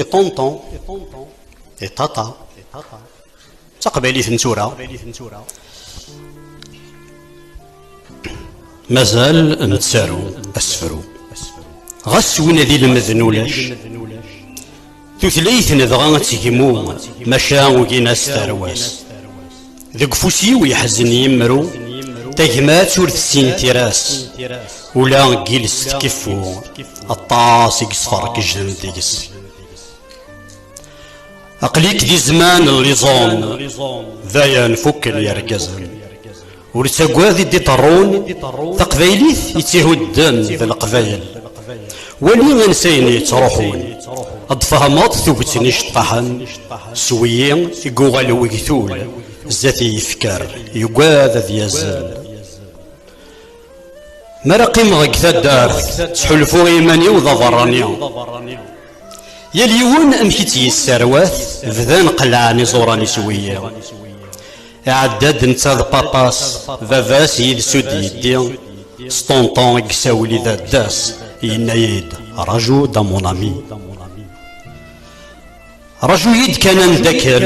I ṭunṭun, i ṭaṭa, d taqbaylit n tura. Mazal nettaru asefru. Ɣas win ad ilmed n ulac, tutlayt nedɣa ad tegmu, maca ugin-as tarwa-s. Deg ufus-iw yeḥzen yimru, tagmat ur tessin tira-s, ula deg yiles tkeffu, aṭas i yesferkejden deg-s. Aql-ik di zzman n liẓum, dayen fukken yergazen. Ur ttagad i d-iṭerrun, taqbaylit i tt-ihudden d leqbayel. Wali ansayen yettruḥun, ad tfehmeḍ tuget n iceṭṭaḥen s wiyi i yuɣal wegtul zdat i yefker, yugad ad yazzel. Mi ara qqimeɣ deg taddart, ttḥulfuɣ i yiman-iw d aberrani. Yal yiwen amek i tt-yesserwat, bdan qellɛen iẓuran-is i wiyiḍ. Iɛedda-d netta d Papas, baba-s yid-s ur d-yeddi, s ṭunṭun i yessawel i dadda-s, yenna-yi-d, Raju-d a mon ami. Raju-yi-d kan ad ndakkel,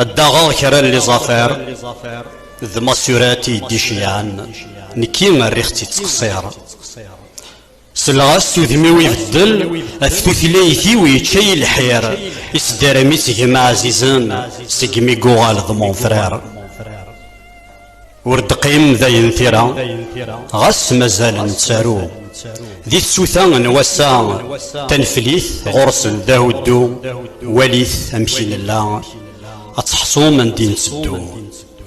ad d-aɣeɣ kra n liẓafar d tmasurat i yi-d-iceyɛen, nekki rriɣ-tt-id ttqeṣṣir. Selleɣ-as s udem-iw ibeddel, af tutlayt-iw yečča-yi lḥir, isdaram-is gem ɛzizen, segmi guɣal d mon frère. Ur d-qqim dayen tira, ɣas mazal nettaru. Di tsuta n wass-a taneflit ɣur-sen d ahuddu, walit amek i nella, ad teḥṣum andi netteddu,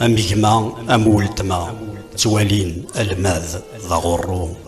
am gma am weltma, ttwalin almad d aɣurru.